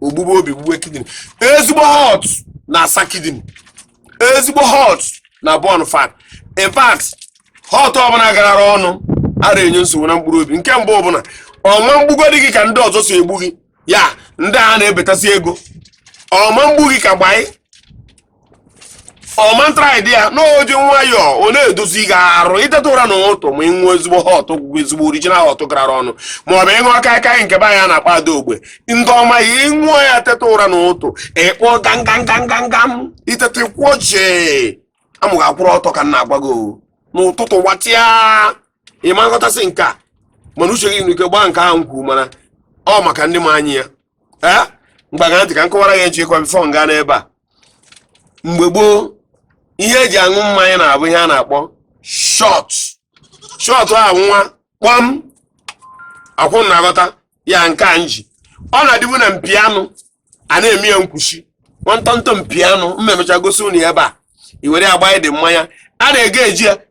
o gbugbuo obi gbugbuo kidney ezigbo hot na-asa kidney ezigbo hot na-burn fat in fact hot ọbụla garara ọnụ ara enye nsogbu na mkpụrụ obi nke mbụ bụ na ọ ma mgbugodị gị ka ndị ọzọ si egbu gị ya ndị a na-ebetasị ego ọ ma mgbu gị ka gbanyị ọ ma ntraịdị ya na o ji nwayọọ ọ na-edozi gị arụ i teta ụra na ụtụ ma ị ṅụọ ezigbo hot ezigbo original hot gara ọnụ ma ọ bụ ị ṅụọ kaikai nke be anyị a na-akpa ada ogbe ndị ọma ya ị ṅụọ ya teta ụra na ụtụ ị kpọọ gangangangangam i teta kwụọ jee amụ gị akwụrụ ọtọ ka m na-agwa gị o. n'ụtụtụ gbatịa ị ma nghọtasị nke a mana uche gị nwere ike gbaa nke ahụ nkwu mana ọ maka ndị ma anya ya ee ngwa ṅaa ntị ka m kọwara gị echi ịkwa before nga n'ebe a mgbe gboo ihe eji aṅụ mmanya na-abụ ihe a na-akpọ shot shot ahụ nwa kpọm ọkwa ị na-aghọta ya nke a m ji ọ na-adịbu na mpi anụ a na-eme ya nkwuchi nwantọntọ mpi anụ m memechaa gosi unu ya ebe a i were ya gbaa ụdị mmanya a na-ege eji ya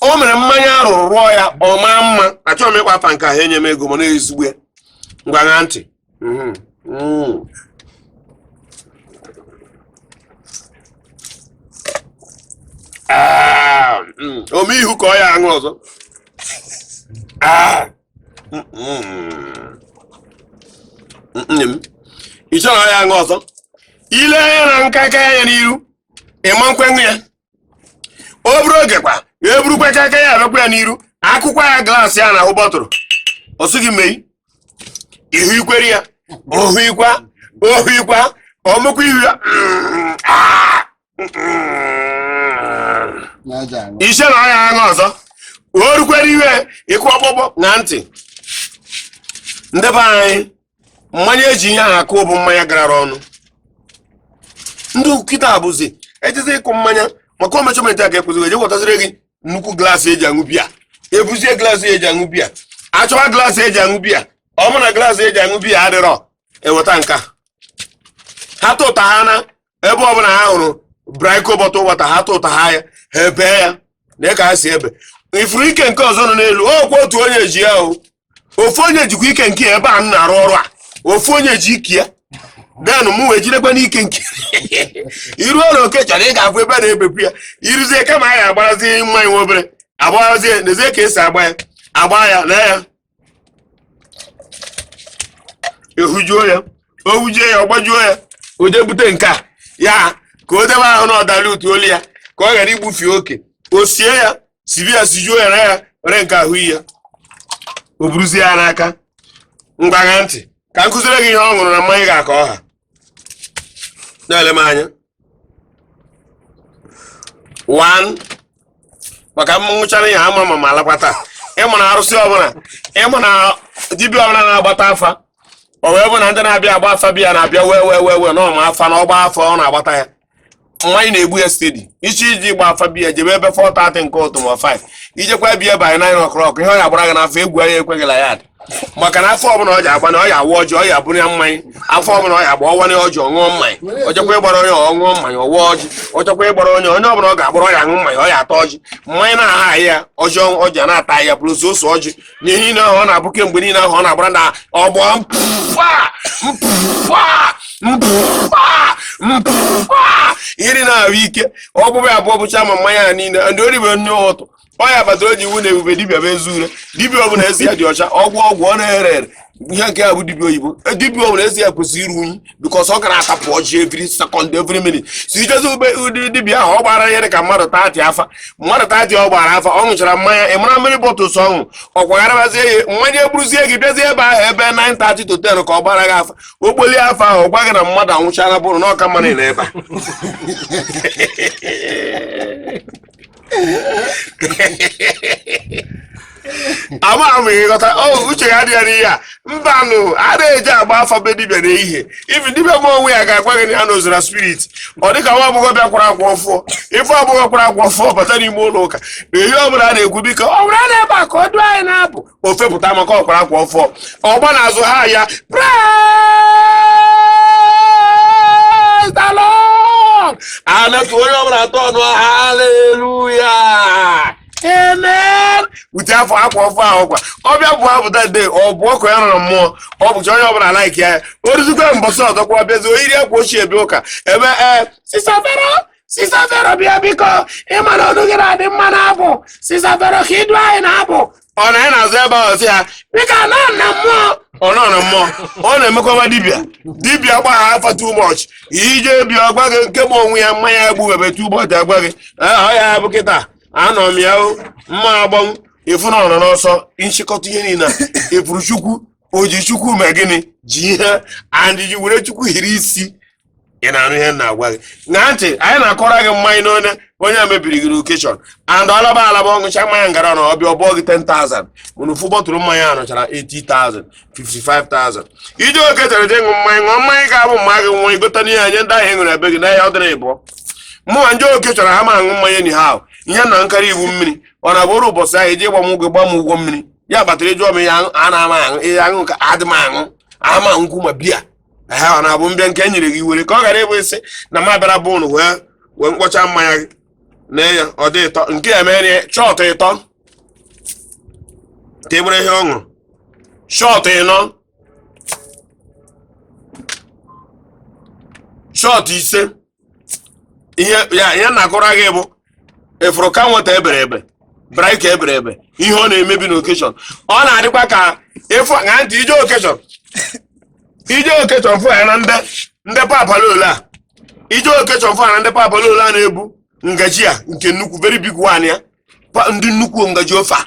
o mere mmanya ahụ rụọ ya ọ maa mma achọghị m ịkpọ afa nke ahụ enye m ego mana ezigbo ya ngwa ṅaa ntị Mhm. Mm. Ah, mm. o mee ihu ka ọ ya aṅụ ọzọ Ah. Mm, mm. nne m i chere ọ ya aṅụ ọzọ i lee anya na kaikai ya n'iru ị ma nkwenụ ya o buru oge kwa e burukwa kaikai ya abịakwa ya n'iru akụkwa ya glaasị ya na ahụ bottle ọ sị gị mee ihu i kwere ya ohu ikwa ohu ikwa o mekwa ihu ya mm, ah, mm. na aja aṅụ i chee na ọ ya aṅụ ọzọ o rukwere ihe ịkụ kpọkpọ na ntị ndị be anyị mmanya eji ihe ahụ akụ bụ mmanya garara ọnụ ndị kịta abụzi ejizi ịkụ mmanya maka ọ measurement a ga-ekwuzi e jee wetaziri gị nnukwu glaasị eji aṅụ biya ebuzie glaasị eji aṅụ biya achọwa glaasị eji aṅụ biya ọ bụ na glaasị eji aṅụ biya adịrọ eweta nke ha tụtara na ebe ọbụla ha hụrụ briko bottle water ha tụta ya ha ebee ya na ka ha si ebe ifuru ike nke ọzọ nọ n'elu okwu otu onye ji ya o ofu onye jikwa ike nke ya ebe a m na-arụ ọrụ a ofu onye ji ike ya then mụ wee jidekwa n'ike nke i ruo na oke chọrọ ị ga-abụ ebe a na-ebepụ ya i ruzie ka mmanya agbarazie nwa obere agbarazie n'ezie ka esi agba ya agba ya lee ya ehujuo ya o hujie ya ọ gbajuo ya o jee bute nke a ya ka o debe ahụ na ọdara utu olu ya ka ọ ghara igbufe oke o sie ya sibi ya sijuo ya na ya were nke ahụ iyi ya o buruzie ya n'aka ngwa ṅaa ntị ka m kụziere gị ihe ọ ṅụrụ na mmanya ga-aka ọha na-ele m anya one maka m ṅụchara ihe a ama m ma m alakwa taa ị ma na arụsị ọbụla ị ma na dibịa ọbụla na-agbata afa o wee bụ na ndị na-abịa agba afa be ya na-abịa wee wee na ọ ma afa na ọ gbaa afa ọ na-agbata ya mmanya na-egbu ya steady ị sị ije gba afa be ya jebe ebe 4:30 nke ụtụ ma 5 i jekwa be ya by 9 o'clock ihe ọ ya gbara gị n'afa egwu anya ekweghị na ya dị maka na afa ọbụla ọ ji agba na ọ ya awa ọjị ọ ya abụrụ ya mmanya afa ọbụla ọ ya agba ọ waa ọjị ọ ṅụọ mmanya ọ chekwa ịgbara onye ọ ṅụọ mmanya ọ waa ọjị ọ chekwa ịgbara onye onye ọbụla ọ ga-agbara ọ ya aṅụ mmanya ọ ya ata ọjị mmanya na-aha ya ọjị ọjị a na-ata ya bụrụ ose ọjị ihe niile ahụ ọ na-abụ kemgbe niile ahụ ọ na-agbara na ọgbọ mpụfa mpụfa mpụfa mpụfa iri na-ahụ ike ọbụbụ ya abụọ bụcha ma mmanya ya niile ndị o ribe n'ụtụ ọ ya kpatara e ji ekwu na ebube dibịa bụ ezi ure dibịa ọ bụla ezi ya dị ọcha ọgwụ ọgwụ ọ na-ere ere ihe nke a bụ dibia oyibo E, dibia ọbụla ezi ya kwesịrị iru unyi because ọ gara atapụ ọjị every second every minute sị i jezie be ụdị dibia ahụ ọ gbara ihe dị ka mmadụ 30 afa mmadụ 30 ọ gbara afa ọ ṅụchara mmanya ị mara many bottles ọ ṅụ ọ kwagharabazie ya mmanya eburuzie gị bịazie ebe ahụ ebe 9:30 to 10 ka ọ gbara gị afa ogboli afa ahụ ọ gwa gị na mmadụ anwụchala bụrụ na ọka mmadụ na ebe a ama m ị ghọta o oh, uche ya adịghị n'ihe a mbanụ a na-eje agba afa be dibịa n'ehihie even dibịa ma onwe ya ga-agwa gị na ya anọzira spirit ọ dịka nwa agbọghọ bịa kwara akwa ọfụọ if agbọghọ kwara akwa ọfụọ bata n'ime ụlọ ụka na ihe ọ bụla a na-ekwu biko Vero nọ ebe a ka o du anyị n'abụ o fepụta maka ọ kwara akwa ọfụọ ọ gbaa n'azụ ha ya Praise the Lord! a na-etu onye ọbụla atọ ọnụ haleluya amen ute afụ akwa ọfụọ ahụ kwa ọ bịa bụọ abụ that day ọ bụ ọkụ ya nọrọ mmụọ ọ bụcha onye ọbụla like ya o ruzikwa mbọsị ọzọkwa bịazi o yiri akwa ochie bịa ụka e mee Sister Vero Sister Vero bịa biko ị ma na ọnụ gị na-adị mma n'abụ Sister Vero ka i du anyị n'abụ ọ nọ n'azụ ebe ahụ si ya biko anọ na mmụọ ọ nọ na mmụọ ọ na-emekwa dibịa dibịa gbagha afa too much i je be ya ọ gwa gị nke ma onwe ya mmanya egbube too much agwa gị "Ah, ọ ya bụ kịta anọ m ya o mma agbanwụ ị fụ na ọ nọ n'ọsọ nchịkọta ihe niile a, efuru chukwu oji chukwu mee gịnị ji ihe and ji were chukwu hiri isi ị na-anụ ihe m na-agwa gị na ntị anyị na-akọrọ gị mmanya n'onye onye a mebiri gị okeshọn and alaba alaba ọ ṅụcha mmanya ngara na ọ bịa ọbụọ gị 10,000 mana ofu bọtụrụ mmanya a nọchara 80,000 55,000 i je okeshọn je ṅụ mmanya ṅụọ mmanya ga-abụ mma gị nwa igota n'ihe anyị ndị ahụ e ṅụrụ ebe gị n'ahịa ọ dịrị ịbụọ mụ na ndị okeshọn ha ma aṅụ mmanya ni ha ihe na-aṅụkarị bụ mmiri ọ na bụrụ ụbọchị ahụ e ji gba m ụgwọ gba m ụgwọ mmiri ya kpatara ị jụọ m ihe a na-ama aṅụ ihe aṅụ ka adị m aṅụ ma nkwụ ma biya ehe ọ na-abụ m bịa nke e nyere gị i were ka ọ ghara ịbụ isi na m abịara bụ ịṅụ wee wee ṅụkpọcha mmanya gị na ya ọ dị ịtọ nke ya mere ya shọt ịtọ ka ebere ihe ọ ṅụrụ shọt ịnọ shọt ise ihe ya ihe m na-akọrọ gị bụ ị fụrụ ka nweta ebere ebe braịka ebere ebe ihe ọ na-emebi n'okeshọn ọ na-adịkwa ka efu na ntị i je okeshọn i je okeshọn fụ ya na ndị ndị papalolo a i je okeshọn fụ ya na ndị papalolo a na-ebu ngaji a nke nnukwu very big one ya pa- ndị nnukwu ngaji ofe a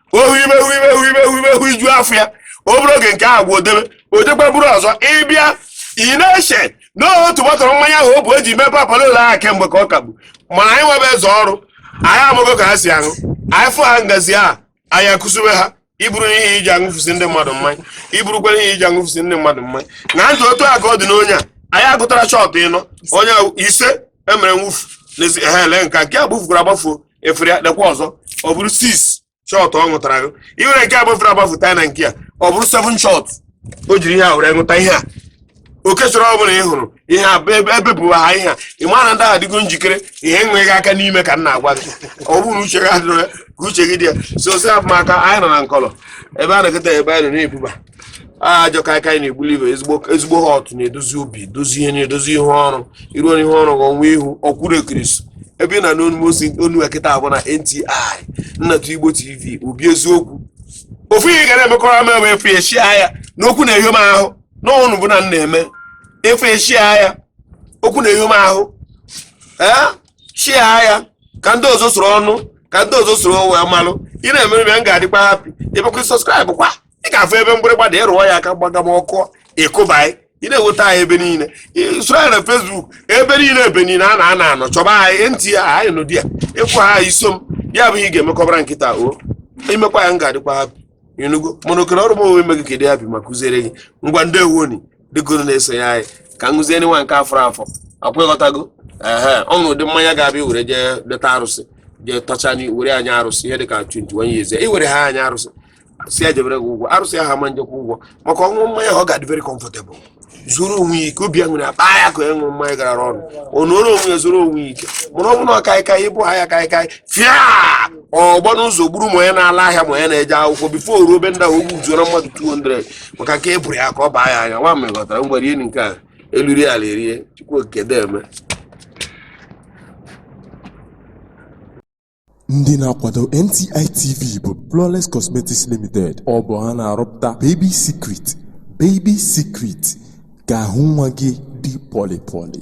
ohu ime hu ime hu ime hu ime hu iju afọ ya obere oge nke ahụ o debe o jekwa buru ọzọ ị bịa ị na-eche na otu bọtụrụ mmanya ahụ o bu eji mee papalolo ahụ kemgbe ka ọ ka bu mana anyị nwebe eze ọrụ anyị amago ka ha si aṅụ anyị fụ ha ngazi a anyị akwụsịbe ha i buru ihe e ji aṅụfusi ndị mmadụ mmanya i burukwa ihe e ji aṅụfusi ndị mmadụ mmanya na ntụ otu a ka ọ dị n'onye a anyị aṅụtara shọt ịnọ onye ise emere mwụfu n'ezi ha ele nka nke a gbafukwara agbafuo i were ya dekwa ọzọ ọ bụrụ 6 shọt ọ ṅụtara gị i were nke gbafuru agbafu ta na nke a ọ bụrụ 7 shọt o jiri ihe a were ṅụta ihe a okeshọn ọ bụla ị hụrụ ihe a ebe ebupụ ha ihe a ị mara na ndị ahụ adịgo njikere ihe enweghị aka n'ime ka m na-agwa gị ọ bụrụ uche gị adịrọ ya ka uche gị dị ya so si abụmaka anyị nọ na nkọlọ ebe a na-eketa ebe anyị nọ na-ebuba ajọ kaikai na-egbuli ibe ezigbo họt na-edozi obi dozi ihe na-edozi ihe ọrụ iru onye ihe ọrụ ọnwa ihu ọkwụrụ ekirisi ebe ị na n'onumosi onu ekịta abụ na nti nnatụ igbo tv obi eziokwu ofu ihe ị ga na-emekọrọ m bụ ị fụ i shia ya n'okwu na-eyo m ahụ n'ọnụ bụ na m na-eme ị fụ i shia ya okwu na-eyo m ahụ i shia ya ka ndị ọzọ soro nụ ka ndị ọzọ soro wee malụ ị na-emere m ya m ga-adịkwa hapi ịbụkwa sọskraịbụ kwa ị ga-afụ ebe mgbịrịgba dị ị rụọ ya aka gbaga m ọkụ ị kụba anyị ị na-enweta anyị ebe niile Ị- soro anyị na fesbuk ebe niile ebe niile a na-ana anọ chọba anyị ntị ya anyị nụdị ya ịkwụ ha anyị so m ya bụ ihe ị ga-emekọbara nkịta o i mekwa ya m ga-adịkwa hapi ị nụgo mana okere ọrụ m onwe ime gị ka ị dị hapi m akụziere gị ngwa ndị ewoni dịgoro na-esonye anyị ka m gụzie nwa nke a fọrọ afọ ọkwa ị ghọtago ehe o nwere ụdị mmanya ga-abịa were jee leta arụsị jee tọcha anyị were nye arụsị ihe dịka 21 years i were ha nye arụsị sị ya jebere gị ụgwọ arụsị ahụ ama ejekwa ụgwọ maka ọṅụṅụ mmanya ọ ga-adị very comfortable zuru onwe ya ike obi aṅụrị akpa ya ka ya ṅụrụ mmanya gara ọrụ ọ nọrọ onwe ya zuru onwe ya ike mana ọ bụ na ọkaịkaị ịbụ ha ya kaịkaị fịa ọ gbaa n'ụzọ gburu ma onye na-ala ahịa ma onye na-eje akwụkwọ before ruo be ndị ahụ o gbuzuoro mmadụ 200 maka nke e bụrụ ya ka ọ baa ya anya nwa m ghọtara ngwa rie nke a elu rie ala erie chukwu okike deme Ndị na-akwado NTI TV bụ Flawless Cosmetics Limited. Ọ bụ ha na-arụpụta Baby Secret, Baby Secret ka ahụ nwa gị dị pọlị pọlị.